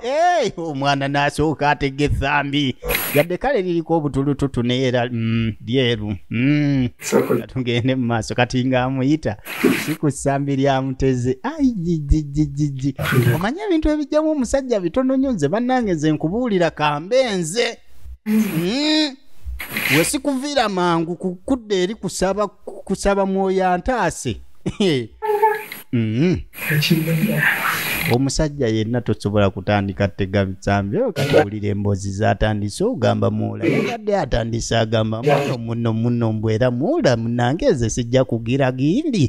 Hey, omwana nasooka atega ethambi yadde kale liriko obutulututu naye era mm, lyeru mm. tugende mu maaso kati nga amuyita si ku ssambi lyamuteze aijijijijiji omanye ebintu ebijjamu omusajja bitono nyo nze bannange nze nkubuulira kambe nze mm. we sikuviira mangu kukudda eri kusaba kusaba mwoyo antaase mm-hmm. omusajja yenna tosobola kutandika tega bitsambi oyo katawulira emboozi zatandise ogamba muula yabadde atandise agamba muno muno muno mbu era muula munange nze sijja kugira gindi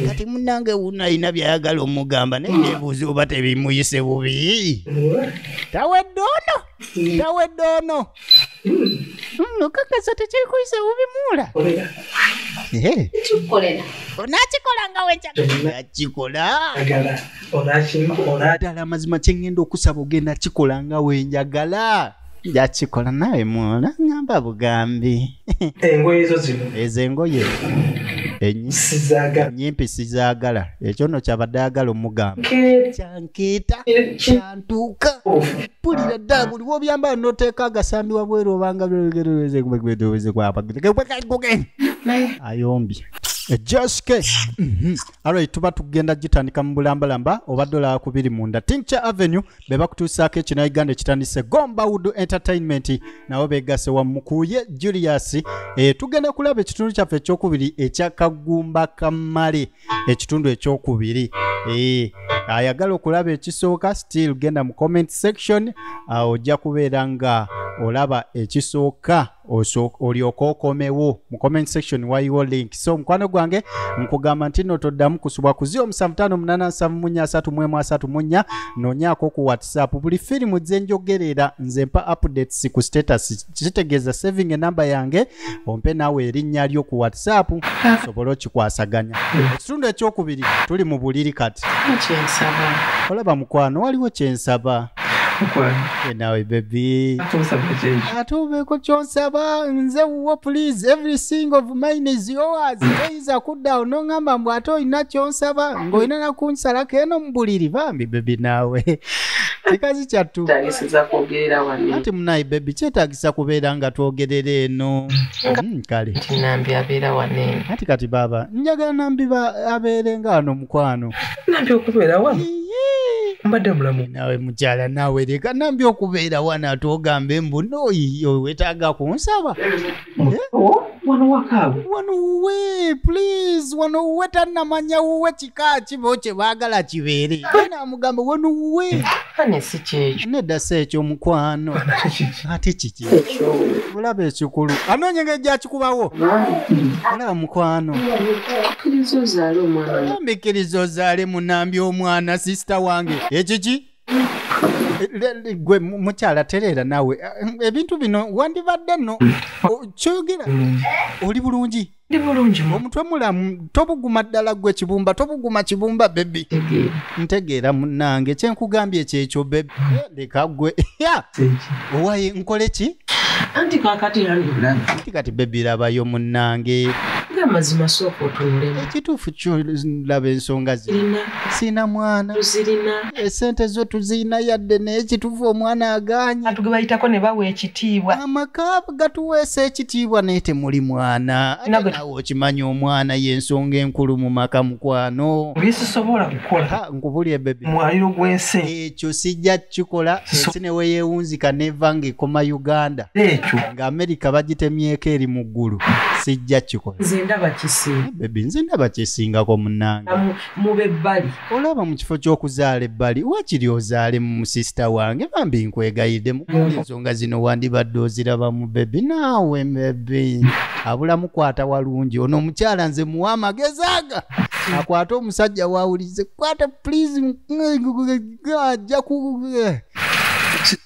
kati munange wuno alina byayagala omugamba naye nebuuzi oba tebimuyise bubi tawedde ono gawedde ono okakasa tekyekuyisa bubimuula onakikola nga wenjakikola ddala amazima kyengenda okusaba ogenda kikola nga wenjagala njakikola nawe mwola ngamba bugambi engoye zo zino ezo engoye enyimpi sizagala ekyo no kyabadde agala omugamba kyankiita tuuka pulira ddala buli wobyambala noteeka agasambi wabweru obanga ayombye ejoske mhm. alright tuba tugenda gitandika mu bulambalamba oba dola kubiri munda tincture avenue be bakutuusaako ekina uganda ekitandise gomba wood entertainment nabo begase wamukuye julius e, tugenda kulaba ekitundu kyaffe ekyokubiri ekyakagumba kamale ekitundu ekyokubiri eh, ayagala okulaba ekisooka still genda mu comment section ah, ojja kubeera nga olaba ekisooka olyoka okomewo mu comment section waliwo link so omukwano gwange nkugamba nti no toddamu kusubwa ku 0758733334 nonyaako ku whatsapp buli firimu gyenjogerera nze mpa updates ku status kitegeeza saving enamba yange ompe naawe erinnya lyo ku whatsapp osobole okikwasaganya ekitundu ekyokubiri tuli mu buliri kati olaba mukwano waliwo kyensaba nawe bebi ate obeeko kyonsaba nze wuwo please every single of mine is yours oyinza kudda awo noŋamba mbu ate olina kyonsaba ng'olina nakunsalako eno mu buliri bambi bebi naawe kikazi kyattu ati munayi bebi kyetagisa kubeera nga twogerera eno hmm, kale ati kati baaba njagala nambi abeere nga ano mukwano nambi okubeera wano mbadde mulamu nawe mukyala nawe leka nambi okubeera wano ati ogambe mbu noyiyo wetaaga kunsaba wano wakaawe wano wuwe please wano wuwe tannamanya wuwe kika kibo kye baagala kibeere naamugamba wano wuwe ane si kyekyo nedda si ekyo mukwano ate kiki olaba ekikulu anoonya engeri gyakikubawo olaba mukwano ozaale munambi omwana sisita wange ekiki gwe mukyala tereera nawe eh, ebintu bino wandibadde no mm. kyoyogera mm. oli bulungi ndi bulungi omutwe mulamu tobuguma ddala gwe kibumba tobuguma kibumba bebi ntegeera munange kyenkugambye kyekyo bebi mm. eh, leka gwe owaye nkole ki anti kakati anti kati bebi labayo munange amazima sooka otunulemu ekituufu kyolaba ensonga zirina sina mwana tuzirina esente zo tuzirina yadde naye kituufu omwana aganye atuge bayitako ne bawa ekitiibwa amaka gatuweesa ekitiibwa naye temuli mwana nawe okimanya omwana yensonga enkulu mu maka mukwano bisisobola kukola nkubulye bebe mwaliro gw'ensi ekyo sijja kikola ensi ne weyeewunzika neva ng'ekoma uganda ekyo nga amerika bagitemyeko eri mu ggulu sijja kikola nze ndaba kisinga bebi nze ndaba kisingako munange Mu- mube bbali olaba mu kifo ky'okuzaala ebbali wakiri ozaale mu musisita wange bambi nkwegayidde mu ensonga zino wandibadde ozirabamu bebi naawe bebi abula mukwata walungi ono omukyala nze muwa amagezi aga akwate omusajja wawulize kwata please ajja ku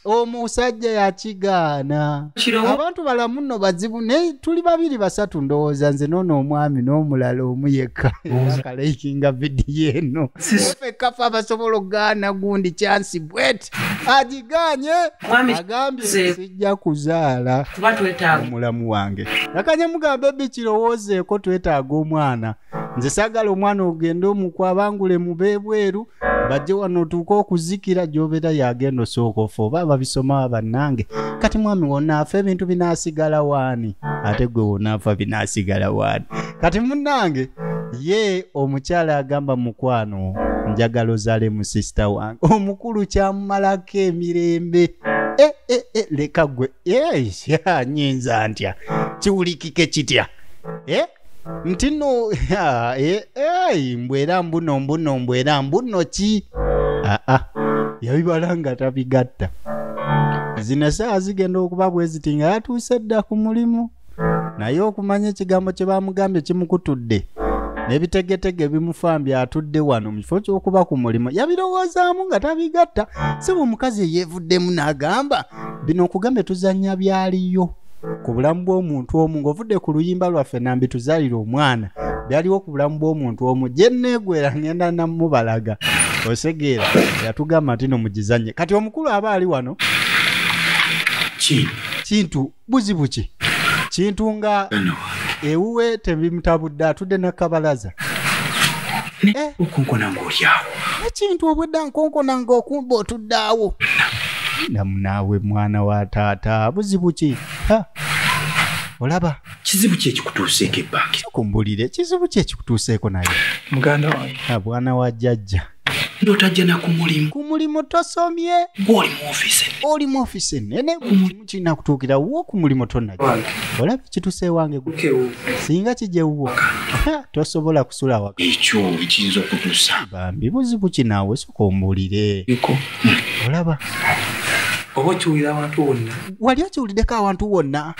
omusajja yakigaana abantu balamu nno bazibu naye tuli babiri basatu ndowooza nze noona omwami n'omulala omu yekka akalayikinga vidiyo eno fekkafe abasobola okugaana gundi kyansi bwet agiganye agambye sijja kuzaala omulamu wange nakanye mugambe bikirowoozeeko twetaaga omwana nze sagala omwana ogende omukwa abangule mubebweru bajje wano otuuka okuzikira gyobera yagenda osooka ofa oba ababisomawa bannange kati mwami wonaafa ebintu binasigala waani ate gwe wonaafa binasigala waani kati munnange ye omukyala agamba mukwano njagala ozale mu sisita wange omukulu kyamumalako emirembe eh, eh, eh, leka gwe nyinza ntya kiwulikike kitya nti no ah, eh, eh, mbu era mbuno mbuno mbu era mbuno ki aa ah, yabibala nga tabigatta zino esaawa zigenda okuba bwe ziti nga yatuuse dda ku mulimu naye okumanya ekigambo kye bamugambye kimukutudde n'ebitegetege bimufambye atudde wano mu kifo ky'okuba ku mulimu yabirowoozaamu nga tabigatta si bwe omukazi eyeevuddemu n'agamba bino okugambye tuzannya byaliyo ku bulamu bw'omuntu omu ng'ovudde ku luyimba lwaffe nambi tuzaalira omwana byaliwo ku bulamu bw'omuntu omu gye nneegwera ngenda namubalaga osegeera yatugamba nti no mugizanye kati omukulu aba ali wano kintu buzibu ki kintu nga ewuwe tebimutabudde atudde nakabalaza okunkona ng'olyawo ekintu obwedda nkonkona ng'okumba otuddaawo namu naawe mwana wa taata buzibu ki olaba kizibu ki ekikutuuseeko ebbange kumbulire kizibu ki ekikutuuseeko naye muganda wange abwana wa jjajja ndotajja na ku mulimu ku mulimu tosomye gwoli mu ofisi oli mu ofisi enene ku mulimu kirina kutuukira wo ku mulimu tonnajja olaba kituse ewange gwe singa kijja ewuwo tosobola kusula waka ekyo kiyinza okutusa bambi buzibu kinaawe soka ombulire olaba oba okiwulira awantu wonna wali okiwuliddeko awantu wonna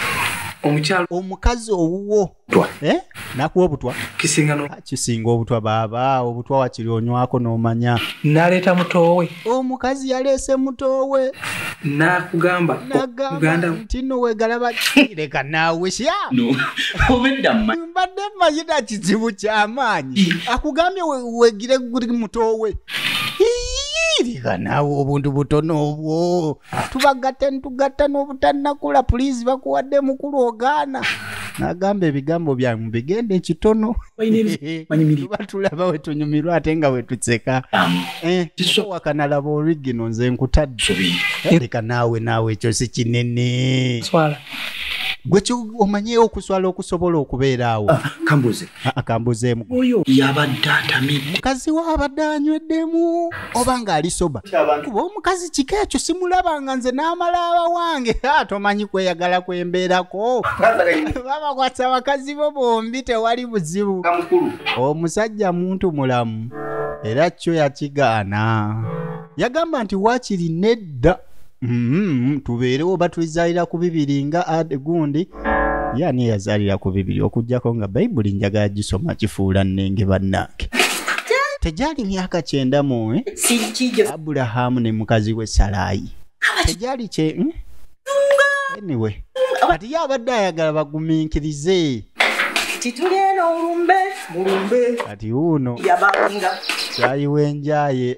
omukyalo omukazi owuwo eh? nakuwa obutwa kisinga no ah, kisinga obutwa baba obutwa wakiri onywako nomanya naleeta mutowe omukazi yaleese mutowe nakugamba muganda ntino wegalaba leka nawe sya obedda mbadde mayina kizibu kyamaanyi akugambye wegire guli mutowe leka nawe obuntu butono obwo tubagatte ntugatta n'obutanakula pulizi bakuwadde mukulu ogaana nagamba ebigambo byange mubigenda ekitono tuba tulaba wetunyumirwa ate nga wetuseka eh, wakanalaba origino nze nkutadde eh, leka naawe naawe ekyo si kinene gwe omanyeyo okuswala okusobola okubeeraawo ah, kambuze akambuzeemu oyo yabadde atamidde mukazi we abadde anyweddemu oba ng'ali soba kuba omukazi kika ekyo simulaba nga nze n'amala abawange tomanyi kweyagala kwembeerako babakwasa bakazi bo bombi tewali buzibu omusajja muntu mulamu era kyo yakigaana yagamba nti waakiri nedda Mm-hmm. tubeerewo oba tulizaalira ku bibiri nga ade gundi ye ani eyazaalira ku bibiri okugyako nga bayibuli njagala gisoma kifuula nnenge bannange tegyali myaka kyenda muwe eh? aburahamu ne mukazi we salaayi tegyali kye hmm? eniwe kati ye abadde ayagala bagumiikirize titulyeno ulumbe mulumbe kati uno yabangira kyayiwenjaye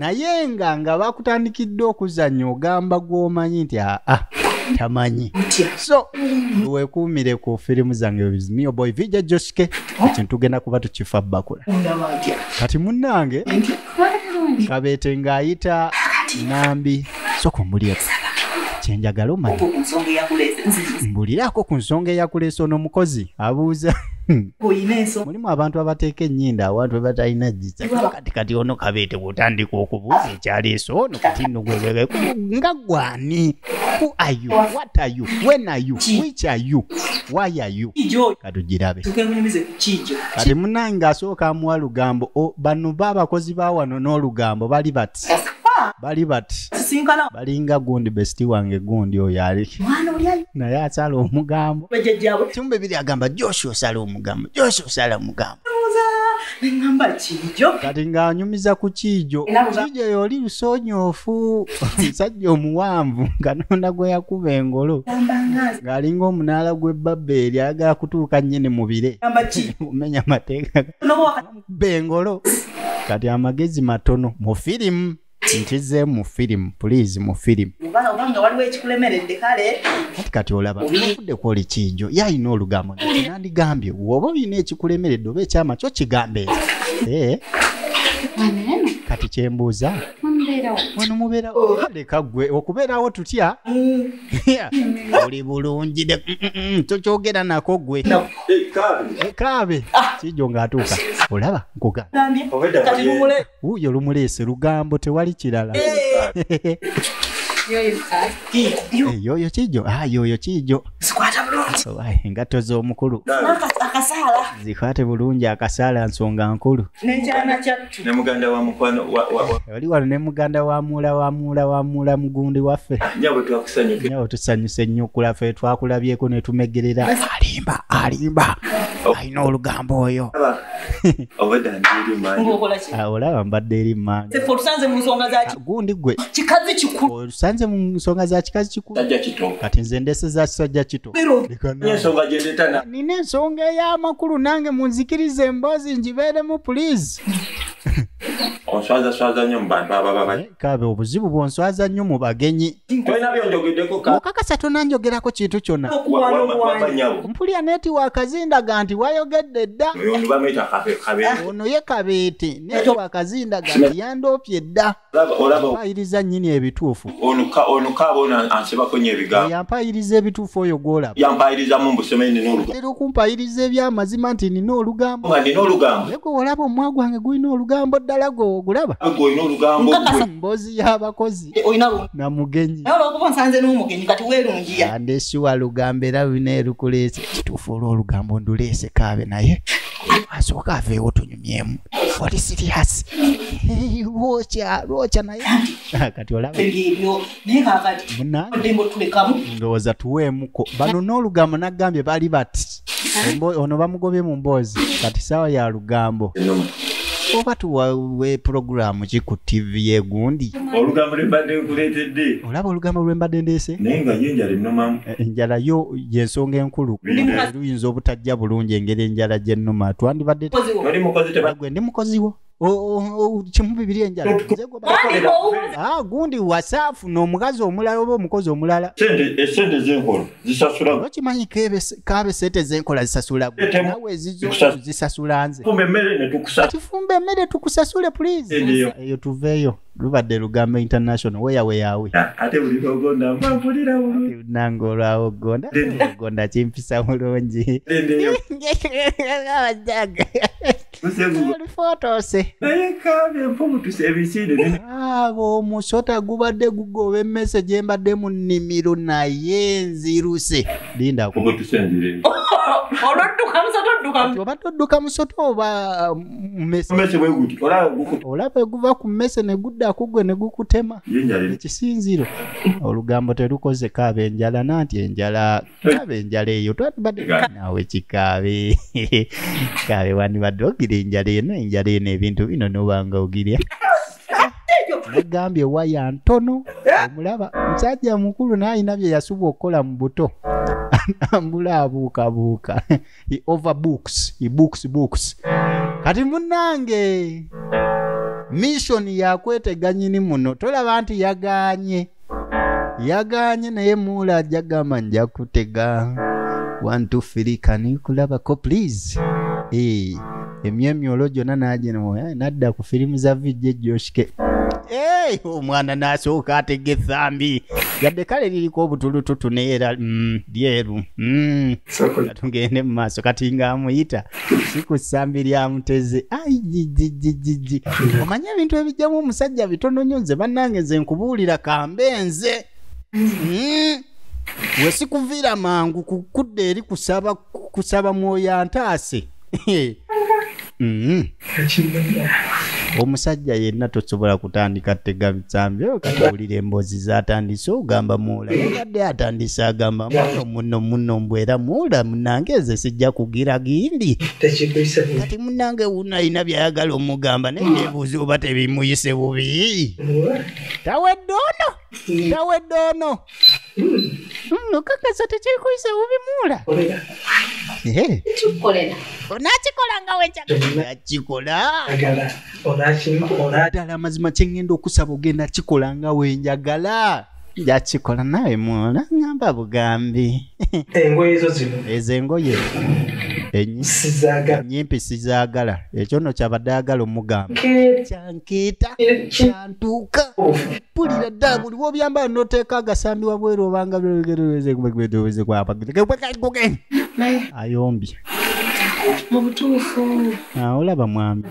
naye nga nga bakutandikidde okuzannya ogamba gwomanyi nti aa ah, ah, tamanyi so wekuumire ku firimu zange bizimiyo boy vija joske ekintu tugenda kuba tukifa bakula kati munnange kabeete ng'ayita nambi soka omulyeko kyenjagala omanya mbuliraako ku nsonga eyakuleesa ono omukozi abuuza mulimu abantu abateeka ennyinda awantu webatalina jizakati kati ono kabeete bwotandika okubuuza ekyaleesa ono kati nugwebebe nga gwani who are you what are you when are you which are you why are you katugirabe kati munange asooka amuwa lugambo bano ba abakozi ba wano n'olugambo bali bat bali bat balinga gundi besiti wange gundi oyo ali naye asala omugambo kimbe biri agamba joshua osala omugambo joshua osala omugambo nengamba kiijo kati ng'anyumiza ku kiijo kiijo yoli lusonyoofu omusajja omuwanvu katonda gwe yakuba engolo ng'alinga omunaala gw'ebbabba eri agala kutuuka nnyini mu bire omenya amateeka bengolo kati amagezi matono mu firimu nkize mu firimu pulizi mu firimu kati kati olaba okudde kwoli kiijo ye alina olugambo nandigambye woba olina ekikulemeredde oba ekyama kyo kigambe eh? kati kyembuuza wano mubeerawo leka gwe okubeerawo tutya mm. oli bulungi mm, mm, mm, tokyogera nako gwe ekaabe eh, ah. kijo ng'atuuka olaba nkugauyo lumuleese lugambo tewali kirala eh. yoyo kijo ah, yoyo kijo engatto z'omukulu zikwate bulungi akasaala nsonga nkulu ne muganda wa mukwano oli wano ne muganda wa muula wa muula wa muula mugundi waffe ah, nyabo twakusanyuke nyabo tusanyuse nnyo okula fe twakulabyeko ne tumegerera alimba alimba oh. alina olugambo oyo ah, olaba mbadde eri mmange gundi gwe kikazi kikulu tusanze mu nsonga za kikazi kikulu kati nze ndese za kisajja kito nina ensonga ey'amakulu nange munzikiriza emboozi ngibeeremu pulizi onswazaswaza nnyo mu bantu ababa eh, kaabe obuzibu bwonswaza nnyo mu bagenyi tolina byonjogeddeko mukakasa tonanjogerako kintu kyonna mpulira neti wakazindaga nti wayogedde dda ono ye kabeete neti wakazindaga nti yandoopye dda mpayiriza nyini ebituufu yampayiriza ebituufu oyo gwolabatera okumpayiriza ebyamazima nti nina olugamboeko olaba omwa gwange gulina olugambo ddala gogulaba mboozi y'abakozi eh, na mugenyiandesiwa lugambo era lulina erukuleese ekituufu olwolugambo nduleese kaabe naye asooka aveewo tunyuma myemu oli siriyasi lwokya lwokya naye kati olaba ndowooza tuweemuko bano n'olugambo nagambye bali bati ono bamugobye mu mboozi kati saawa ya lugambo oba tuwawe pulogulaamu ki ku tivi yegundi olaba olugambo lwembadde ndeese enjala yo yensonga enkulu luyinza obutajja bulungi engeri enjala gyennuma twandibadde gwe ndi mukoziwo kimu bibiri enjala ah, gundi wasaafu n'omukazi omulala oba omukozi omulala esente eh, zenkola zisasula okimanyi kaabe sente zenkola zisasula nawe zisasula nze tifumba emmere tukusasule pulizi eyo tuveeyo lubadde lugambo international weya weyawe ate buli logonda mba mpulira bulungi nange olwawo gonda gonda kimpisa bulungi abajaga olifotose naye kambe mpumutuse ebisinde abo ah, omusota gubadde gugoba emmese gye mbadde mu nnimiro naye nziruse linda olwadduka musota odduka obadde odduka musota oba um, olaba eguva ku mmese ne gudda kugwe ne gukutema ekisinziro olugambo telukoze kaaba enjala nanti enjala kaaba enjala eyo twandibadde naawe kikaabe kaabe wandibadde ogira enjala eno enjala eno ebintu bino nobanga ogirya nagambye waya ntono eh? omulaba musajja mukulu naye alina bye yasuba okukola mu buto atambula abuukabuuka he overbooks he books books kati munange mission yakwetega nyini muno tolaba nti yaganye yaganye naye muula ajja gamba nja kutega wantu filikani kulabako please Eh, emyemyolo gyonna nagino eh, nadda ku firimu za vijje joshike Eh, omwana nasooka atega ethambi yadde kale liriko obutulututu naye era mm, lyeru Mm. tugende mu maaso kati nga amuyita si ku ssambi lya mutezi aijijijijiji omanye ebintu ebijjamu omusajja bitono nyo nze bannange nze nkubuulira kambe nze hmm? we sikuviira mangu kukudda eri kusaba mwoyo antaase mm-hmm. omusajja yenna tosobola kutandika tegamizambi okatawulira emboozi zatandise ogamba muula yabadde atandise agamba muno muno muno mbwera muula munange eze sijja kugira gindi kati munange wuno alina byayagala omugamba naye nebuuzi oba tebimuyise bubi tawedde ono gawedde ono nokakasa tekyekuyisa bubimuula kikukolera onakikola nga wenjakikola ddala amazima kyengenda okusaba ogenda kikola nga wenjagala njakikola nawe muola ngamba bugambi engoye ezo zino ezo engoye enyimpi sizaagala ekyo no kyabadde agala omugamba kyankeeta kyantuuka pulira dda buli wobyambala noteeka agasambi wabweru obanga ayombye mubutuufu ah, olaba mwami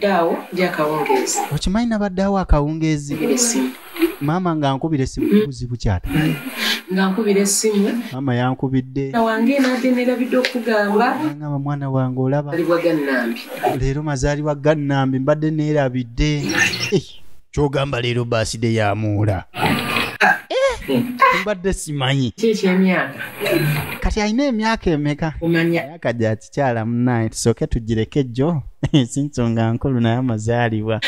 okimanyi nabaddeawo akawungeezi maama nga nkubira essimu kubuzibu kyata nga nkubira essimu maama yankubidde wange nade nerabidde okugamba ngamba mwana wange olaba leero mazaalibwa gannambi mbadde neerabidde eh, kyogamba leero baaside yamuula mbadde simanyi kati alina emyaka emeka emyaka gyaki kikyala munaye tusooke tugireke jjo si nsonga nkulu naye amazaalibwa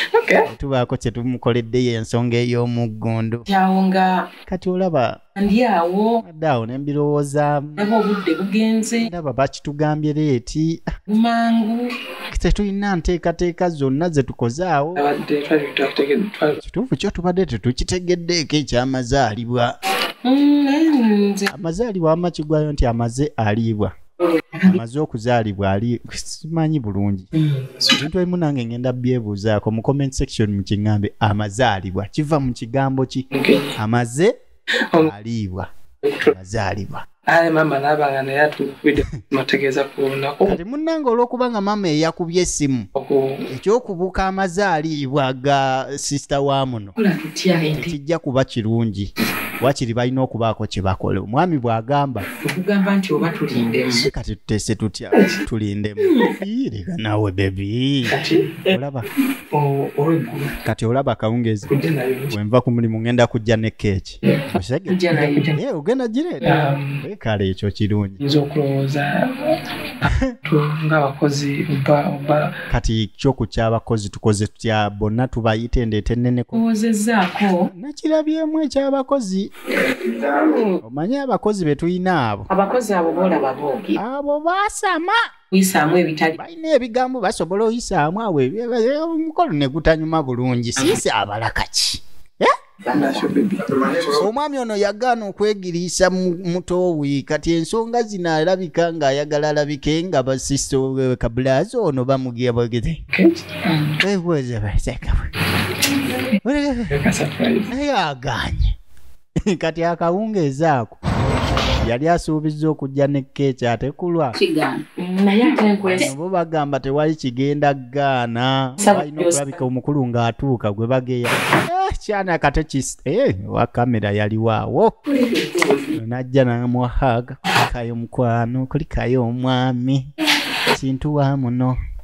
tubaako kye tumukoleddeyo ensonga ey'omuggundu awo nga kati olaba ndi awo adde awo ne mbirowoozaamu aba obudde bugenze ndaba bakitugambye leeti mangu tetulina nteekateeka zonna ze tukoze awo kituufu kyo tubadde tetukitegeddeeko ekyamazaalibwa mm, amazaalibwa amakigwayo nti amaze aliibwa amaze okuzaalibwa ali simanyi bulungi ebintu ebimu nange ngenda byebuuzaako mu comment section mu kiŋŋambe amazaalibwa kiva mu kigambo ki amaze aliibwa amazaalibwa aye maama naaba nga naye atuukwidde mategeeza ku lunaku kati munnange olw'okuba nga maama eyakubye essimu ekyokubuuka amazaaliibwa ga sisita wa muno tekijja kuba kirungi wakiri balina okubaako kye bakola omwami bw'agamba okugamba nti oba tulindemu kati tutese tutya tulindemu yireka nawe bebi olaba olweggulu kati olaba akawungezi wenva ku mulimu ngenda kujja ne keeki ogenda gireeta um, kale ekyo kirungi nza okulowooza ngaabakozi kati kyoku kyabakozi tukoze tutya bonna tubayita endeeta enneneko owozezaako nakirabyemu ekyabakozi omanyi abakozi betulina abo abakozi abo bolaba boge abo basama kuyisaamu ebitali balina ebigambo basobola oyisaamu awo omukolo ne gutanyuma bulungi siisi abala kaki eh? omwami ono yagaana okwegiriisa mutoowi kati ensonga zino alabika ng'ayagala alabike nga basisita kabulazi ono bamugiabagete webuuze basekabwe naye aganye kati akawungeezi ako yali asuubizza okujja ne keeki ate kulwa bo bagamba tewali kigenda gaana balina okulabika omukulu ng'atuuka gwe bageya eh, kyana kate kis eh, wa kamera yaliwaawo najja namuhaga kayo mukwano kulikayo omwami kintu wa muno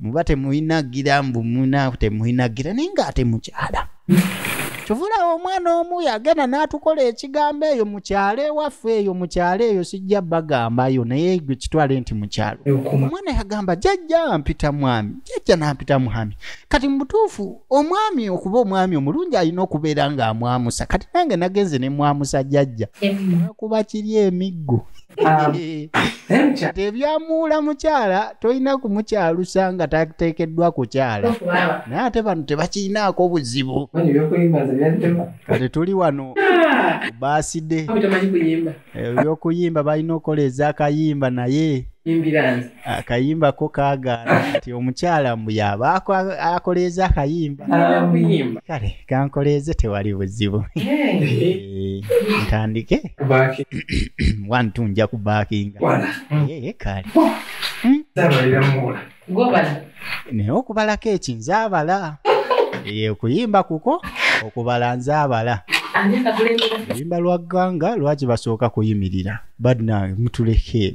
muba temulina gira mbu muna temulina gira naye nga ate mukyala kyovulawo omwana omu yagenda n'atukola ekigambo eyo mukyalo ewaffe eyo mukyalo eyo sijja bagambayo naye gwe kitwale nti mukyalo omwana yagamba jajja mpita mwami jajja nampita mwami kati mubutuufu omwami okuba omwami omulungi alina okubeera ng'amwamusa kati nange nagenze ne mwamusa jajja kuba kiri emiggo Um, tebyamuula mukyala tolina kumukyalusa nga tateekeddwa kukyala naye ate bano tebakirinaako obuzibu kati tuli wano ah! baaside ebyokuyimba eh, balina okukola ezakayimba naye akayimba ko kagaana nti omukyala mbu yaba ako- akoleeza akayimba Alamuyimba. kale kankoleeze tewali buzibu Eh, ntandike Kubaki. one two nja kubakinga Wala. Eh, kale Zabalira mula. Gobala. naye okubalako eki nzaabala Eh, okuyimba kuko okubala nzaabala Ani akakulembera? oluyimba lwa gganga lwaki basooka kuyimirira badna mutuleke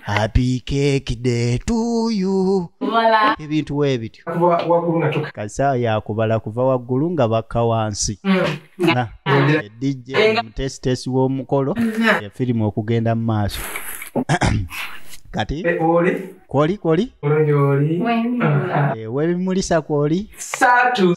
happy cake day to you ebintu webityo kasaa yakubala kuva waggulu nga bakka wansi hmm. dj mutesitesi w'omukolo efirimu okugenda mu maaso kati eh, kwoli kwoli ah, ah. eh, webimulisa kwoli satu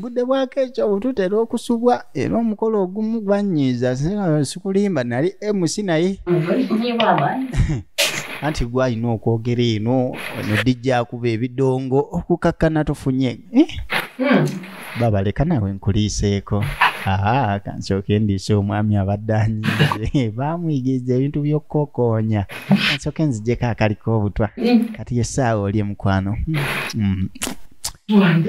budde bwako ekyo bututera okusubwa era omukolo ogumu gwanyiiza sikulimba nali mc naye anti gwalina okwogera eno ono dijja akuba ebidongo okukakkana tufunye eh? hmm. babaleka nawe nkuliiseeko aa kansooke ndiise omwami abadde anyiize baamuyigiriza ebintu by'okukokoonya kansooke nzijeko akaliko obutwa hmm. kati yesaawa oli emukwano hmm.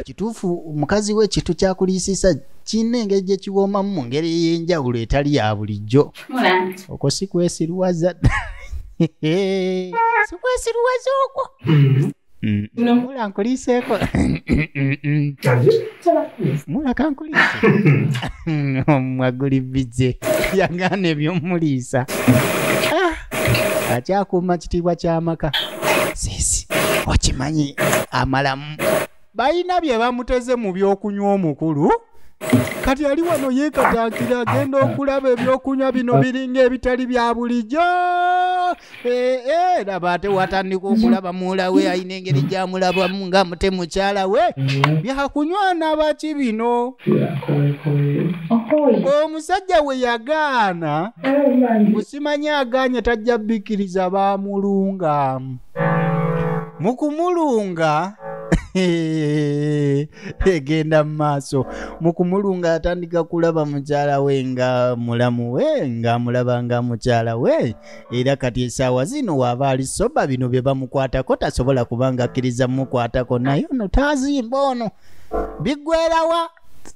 kituufu mukazi we kintu kyakuliisisa kirina engeri gye kiwoomamu mu ngeri ey'enjawulo etali ya bulijjo okwo si kwesiruwaza si kwesiruwaza okwo mm-hmm. Mula mm-hmm. nkuliiseeko mula kankuliise omwaguli bize yagaana ebyomuliisa akyakuuma kitiibwa ky'amaka sisi okimanyi amalamu balina bye bamuteze mu by'okunywa omukulu kati ali wano yeekatankira agenda okulaba ebyokunywa bino biringa ebitali bya bulijjo eh, eh, laba ate watandika okulaba muwula we alina engeri gyamulabamu nga mute mukyala we byakunywa nabaki bino omusajja we yagaana kimanye aganye tajja bikkiriza baamulunga mu kumulunga egenda mu maaso mu kumulunga atandika kulaba mukyala we nga mulamu we ng'amulaba nga mukyala we era kati esaawa zino waaba ali soba bino bye bamukwatako tasobola kubanga akkiriza mumukwatako naye ono taazimba ono biggwerawa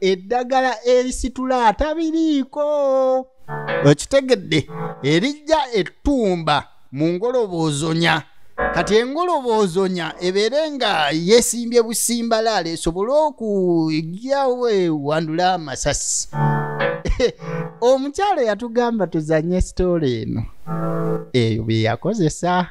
eddagala erisitula atabiriiko okitegedde erijja ettumba mu ngoloboozonya kati engoloboozonya ebeere nga yesimbye busimbalaala esobole okugyawo ewandula amasasi omukyalo yatugamba tuzanye sitoola eno eyo byeyakozesa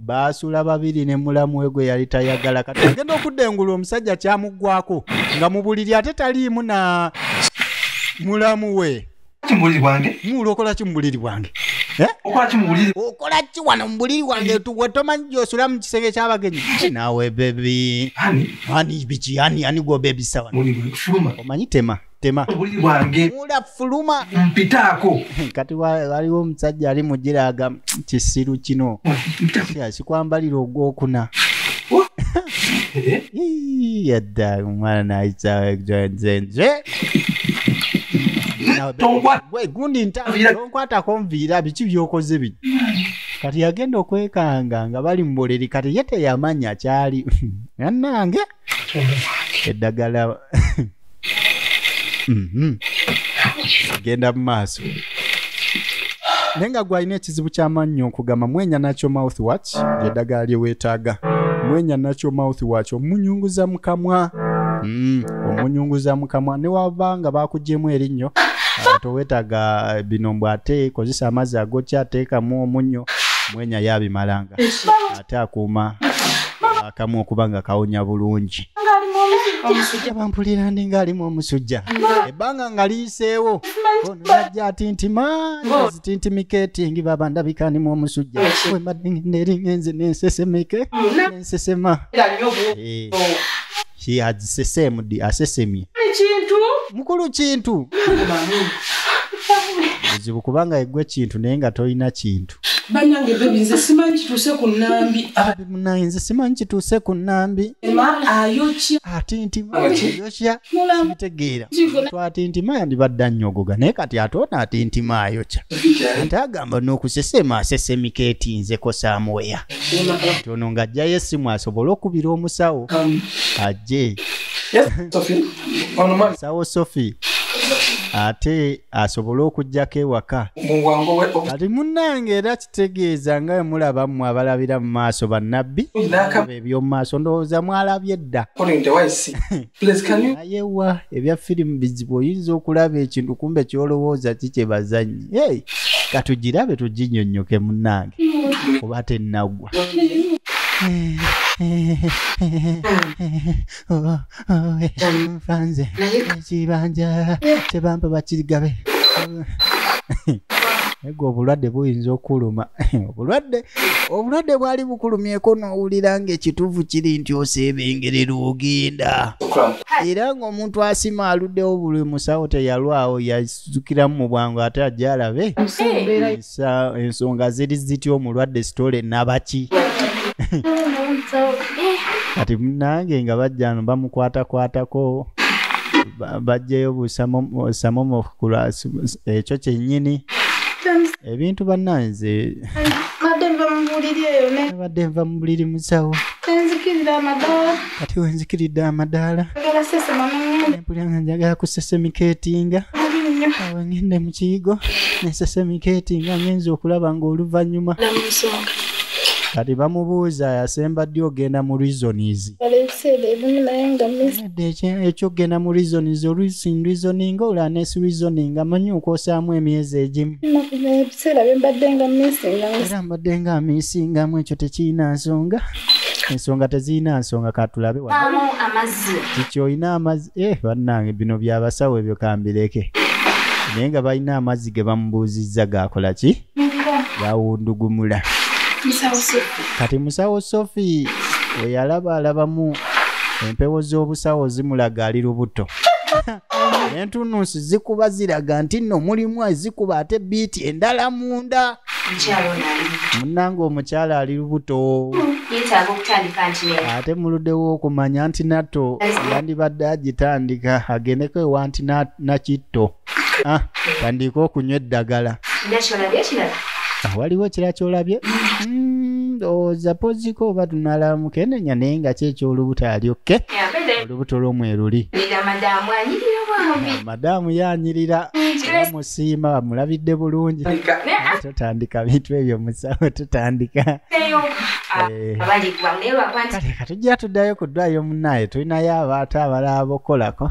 baasula babiri ne mulamu we gwe yali tayagala kati agenda okudda engulu omusajja kyamuggwako nga mu buliri ate taliimu na mulamu we mulokola ki mu buliri bwange eh? okola ki wano mu buliri wange wetomanyi gyosula mu kisenge kyabagenyi nawe bebi ani biki ani ani gwobebisawa omanyi tema tema obuli bwange mula fuluma mpitaako kati waliwo omusajja ali mugiraga kisiru kino sikwambalira ogwokuna yadda omwana nayisaenze gundi ntaonkwatako nviira biki byokoze bi kati yagenda okwekanga nga bali muboleri kati ye teyamanya kyali anange eddagala mhm. genda mu maaso naye nga gwalina ekizibu kyamannyo okugamba mwenya nakyo mouth watch lyeddagala lye weetaaga mwenya nakyo mouth watch omunyunguza mu kamwa mm, omunyunguza mu kamwa ne waba nga bakugyemu erinnyo ah, towetaga eh, bino mbw ate kozesa amazzi agokya ateekamu omunnyo mwenya yabimalanga ate akuuma akamu okuba nga kawonya bulungi omusujja bampulira ndi ng'alimu omusujja ebbanga nga liyiseewo onajja atintimazitintimiketingi baba ndabikanimu omusujja wembadde ngendeeringenze nensesemeke mm, nensesema eh. he had sesemdi asesemye kintu mukulu kintu buzibu kubanga egwe kintu naye nga tolina kintu banange bebi nze simanyi kituuse ku nambi munaye nze simanyi kituuse ku nambi ayokya atintimayokya mitegeera twatintima yandibadde annyogoga naye kati ate ona atintima ayokya ate agamba nokusesema asesemika etinzeko samuweya nti ono ng'ajjayo essimu asobole okubira omusawo ajje omusawo sophie ate asobole okugyako ewaka kati munnange era kitegeeza nga we mulaba mmwe abalabira mu maaso bannabbi eby'omu maaso ndowooza mwalabye dda naye wa ebya firimu bizibu oyinza okulaba ekintu kumbe kyolowooza ki kyebazanyi hey, katugirabe tuginyonyoke munange oba tenagwa nfanze ekibanja kyebampa bakirigabe Nga obulwadde buyinza okuluma obulwadde obulwadde bwali bukulumyeko n'owulira ng'ekituufu kiri nti oseebengerera ogenda era ng'omuntu asima aluddewo buli musawo teyalwawo yazukiramu mu bwangu ate ajja alabe ensonga ziri zitya omulwadde sitole nabaki kati munange nga bajjano bamukwatakwatako bajjayo busamo kulwasi ekyo kyennyini ebintu bannanze badde nva mu buliri musawo kati wenzikiridde amadaala empulanga njagala kusesemiketinga awo ngende mu kiyigo nesesemiketinga ngenza okulaba ng'oluvannyuma kati bamubuuza yasemba ddi ogenda mu reasons ekyokugenda mu reasons olusin reasoning olanes reasoning amanyi okwosaamu emyezi egimu ebiseera byembadde nga misingaera mbadde nga misingamu ekyo tekirina nsonga ensonga tezirina nsonga katulabe kiki olina amazzi e eh, bannange bino byabasawo ebyo kambireke naye nga balina amazzi ge bamubuuzizza gakola ki yawundugumula kati musawo sofi weyalaba alabamu empewo z'obusawo zimulaga ali lubuto entunusi zikuba ziraga nti nno mulimu ezikuba ate biiti endala munda munanga omukyala ali lubuto ate muludewo okumanya nti nato yandibadde agitandika agendeko ewanti nakitto ah, tandiika okunywa eddagala ah, waliwo ekira kyolabye hmm, ndowooza poziko oba tunalamu kenenya naye nga kyekyolubuto alyokke olubuto lwomweruli madaamu yanyirira musiima amulabidde bulungi totandika bintu ebyo musawo tutandika eh. kale katujja tuddayo ku ddwayo munaaye tulinayo abaata abalaba bokukolako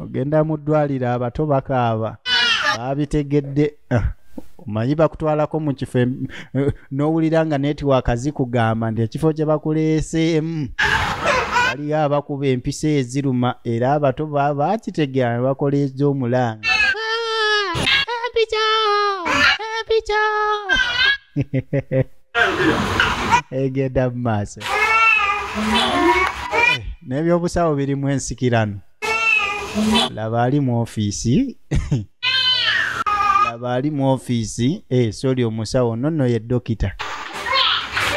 ogenda mu ddwaliro abato bakaaba baabitegedde ah, omanyi bakutwalako mu kifo em- eh, n'owulira nga netiwaaka zikugamba nti ekifo kye bakuleeseemu waliyo abakuba empisa eziruma era abato ba- bakitegera ne bakola ez'omulanga egenda mu maaso n'ebyobusawo birimu ensikirano laba ali mu ofiisi laba ali mu ofiisi eh, soli omusawo nonno ye dokita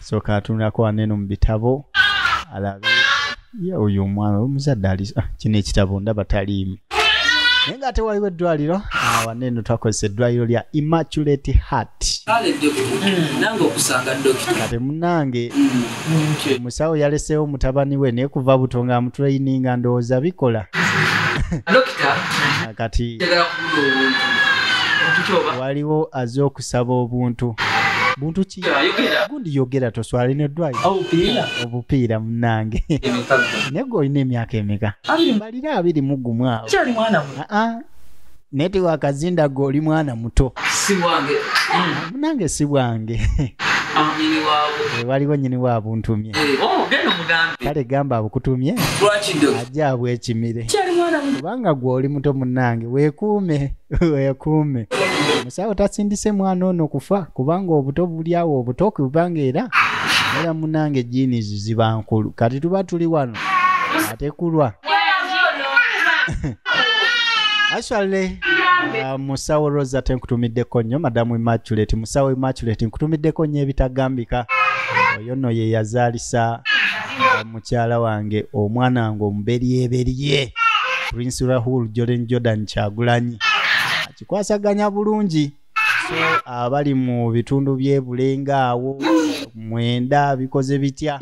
soka atunulako waneno mu bitabo alabe ye oyo omwana omuzadde ali ah, kino ekitabo ndaba taliimu naye nga ate waliwo eddwaliro awana eno twakozesa eddwaliro lya immaculate heart kati munange omusawo mm. yaleseewo mutabani we naye kuva buto nga amutulayininga ndowooza bikola kati waliwo aze okusaba obuntu buntu kati gundi yogera toswala ino dwayo obupiira munange naye gwe olina emyaka emeka mbalire abiri mugumu awo naye tewakazinda gwe oli mwana muto munange si bwange eh, waliwo nyini wa buntumye eh, oh, kale gamba abukutumye ajja abwekimire kubanga gwe oli muto munange wekuume weekuume musawo tasindise mwana ono kufa kubanga obuto buli awo obuto kubanga era era munange jiini ziziba nkulu kati tuba tuli wano atekulwa actually uh, musawo rosa tenkutumiddeko nnyo madamu immaculate musawo immaculate nkutumiddeko nnyo ebitagambika oyo no ye yazaalisa uh, mukyala wange omwana wange omuberyeberye prince rahul jordan jordan kyagulanyi akikwasaganya bulungi so abali mu bitundu byebulenga awo mwenda bikoze bitya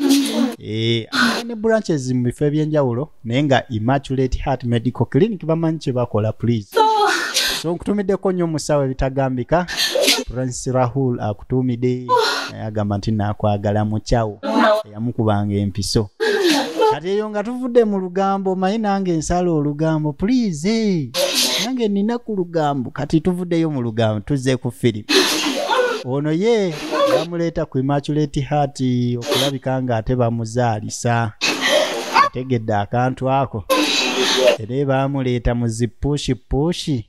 eh, ne branches mu bifo ebyenjawulo naye nga immaculate heart medical clinic bamanyi kyebakola please so nkutumiddeko nnyo omusawo ebitagambika prince rahul akutuumide agamba nti nakwagala mukyawo eyamukubanga empiso kati eyo nga tuvudde mu lugambo omanyi nange nsala olugambo pulize nange nina ku lugambo kati tuvuddeyo mu lugambo tuzze ku firimu ono ye bamuleeta ku imaculate heart okulabika nga ate bamuzaalisa ategedde akantu ako era baamuleeta mu zipushipushi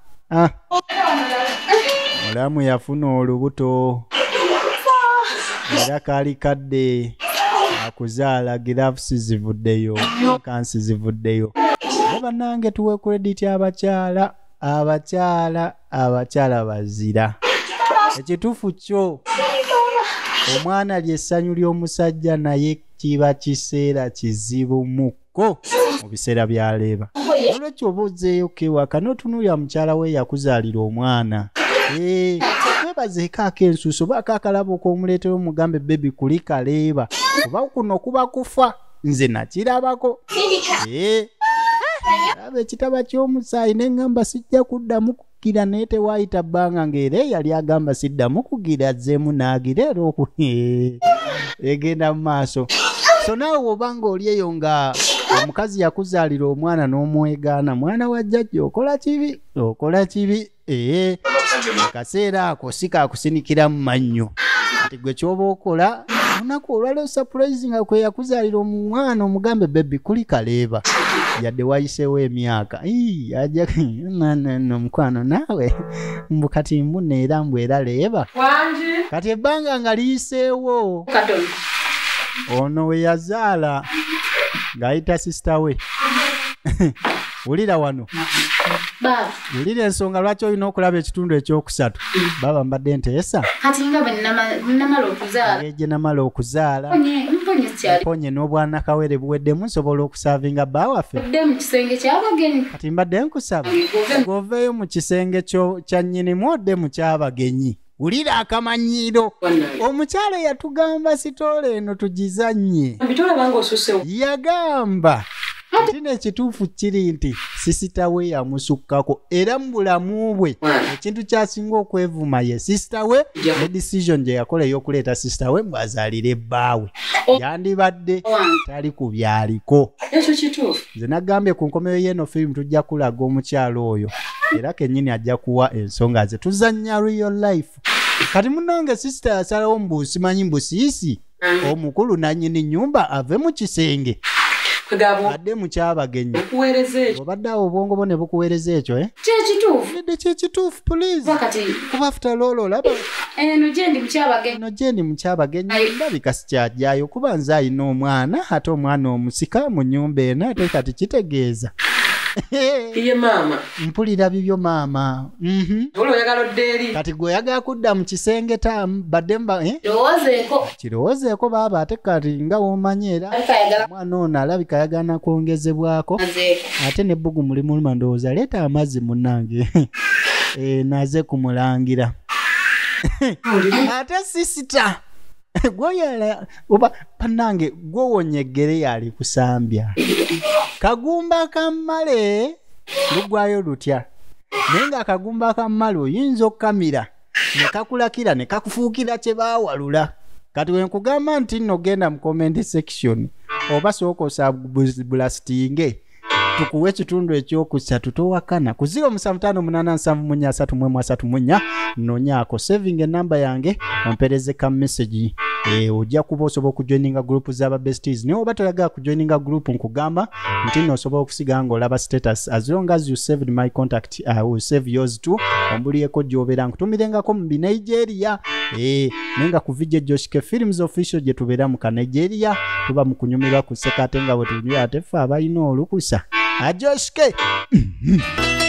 ah. mulamu yafuna olubuto era kaali kadde akuzaala girafusi zivuddeyo kansi zivuddeyo e bannange tuwe kurediti abakyala abakyala abakyala bazira ekituufu kyo omwana lyessanyu ly'omusajja naye kiba kiseera kizibu mu ko mu biseera bya leeba olwekyo oba ozeeyo kewaka n'otunuulira mukyala we yakuzaalira omwana webazeekaako ensuusi oba akakalaba okw'omuleetera omugambe bebi kuli kaleeba oba kuno kuba kufa nze nakirabako laba ekitaba ky'omusaayi ne ŋŋamba sijja kuddamu gira naye tewaayita bbanga ng'era eyali agamba siddamu kugira azzeemu n'agira era oku egenda mu maaso so naawe woba ng'oli eyo nga omukazi yakuzaalira omwana n'omwegaana mwana wa jjajja okola kibi okola kibi ee akaseera ako si kakusinikira mu mannyo nti gwe kyoba okola olunaku olwaleo sapurayizi nga kwe yakuzaalira omwana omugambe bebi kuli kaleeba yadde wayiseewo emyaka no mukwano naawe mbu kati mbuna era mbu era leeba kati ebbanga nga liyiseewo ono we yazaala ng'ayita sisita we wulira wano wulira ensonga lwaki olina okulaba ekitundu ekyokusatu baba mbadde nteesa eje namala okuzaala mponye n'obwanakawere buweddemu nsobola okusaavinga bba waffe kati mbadde nkusaba goveeyo mu kisenge kya nnyinimu odde mu kyabagenyi wulira akamanyiiro omukyala yatugamba sitoola eno tugizannye yagamba nti nekituufu kiri nti sisita we yamusukkako era mu bulamu bwe ekintu kyasinga okwevuma ye sisita we ne decision gye yakola ey'okuleeta sisita we mbwazaalire ebbaawe oh. yandibadde tali ku byaliko ekyo kituufu nze nagambye ku nkomeyo yeeno firimu tujja kulaga omukyalo oyo era kenyini ajja kuwa ensonga ze tuzanya real life kati munange sisita yasalawo mbu simanyi mbu siisi omukulu nanyini nyumba ave mu kisenge adde mukyabagenyi obadde awo obwongo bwo ne bukuweereza ekyo eh? kyekituufudde kyekituufu pulizikuba futa loolo olaba eno gyendi mukyabagenyi ndabika kyajyayo kuba nze alina omwana ate omwana omusika mu nyumba eno ate kati kitegeeza iye maama mpulira bibyo maama mhm. oyagala odde eri kati gwe oyagala kudda mu kisenge ta badde mba eh? kirowoozeeko baaba ate kati nga womanyi era omwana ono alabika ayagana kwongezebwako ate ne bbugu mulimuluma ndowooza leeta amazzi munange eh, naze kumulangira ate sisita gwoyala oba panange gwowonye eggere yali kusambya kagumba kammale lugwayo lutya naye nga akagumba kammale oyinza okukamira ne kakulakira ne kakufuukira kye baawalula kati we nkugamba nti nno genda mu comment section oba sooka osabulasitinge tukuwa ekitundu ekyokusatu towakana ku 07587331 nonyaako saving enamba yange ompereze ka message e, ojja kuba osobola okujoininga gurupu zaba besties naye oba toyagala kujoininga gurupu nkugamba nti noosobola okusiga nga olaba status as long as you saved my contact ti- ah, will save yours too ombulieko gyobera nkutumilengako mu binigeria eh, naye nga ku vijje joshike films official gye tubeera mu kanigeria tuba mu kunyumirwa ku sseka ate nga bwetunyumirwa ate ffe abalina olukusa ajoshike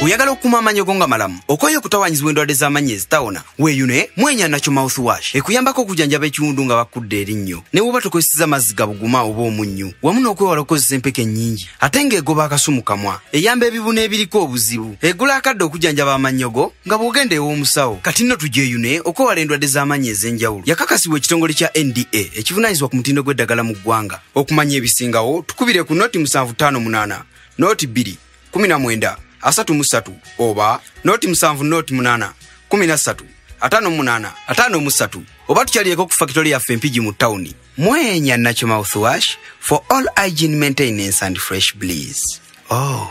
oyagala okukuuma amaanyi go nga malamu okwayo okutawanyizibwa endwadde z'amaanyi ezitawona weeyo naye mwenya nakyo mouthwash ekuyambako okujanjaba ekiwundu nga bakudda erinnyo ne woba tokozeseza mazzi gabuguma oba omunnyu wamu n'okwewala okukozesa empeke ennyingi ate ng'egoba akasu mu kamwa eyamba ebibuna ebiriko obuzibu egula akadde okujanjaba amannyogo nga bw'ogenda ew'omusawo kati nno tugyeyune okwewala endwadde z'amaanyi ez'enjawulo yakakasibwa ekitongole kya nda ekivunaanyizibwa ku mutindo gw'eddagala mu ggwanga okumanya ebisingawo tukubire ku noti 758 noti 2 19 asatu mu ssatu oba noti musanvu noti munana kumi na ssatu ataano munaana ataano mu ssatu oba tukyalireko ku fakitole yaffe empigi mu tawuni mwenya nakyo mouthwash for all igin maintenance and fresh bleas oh.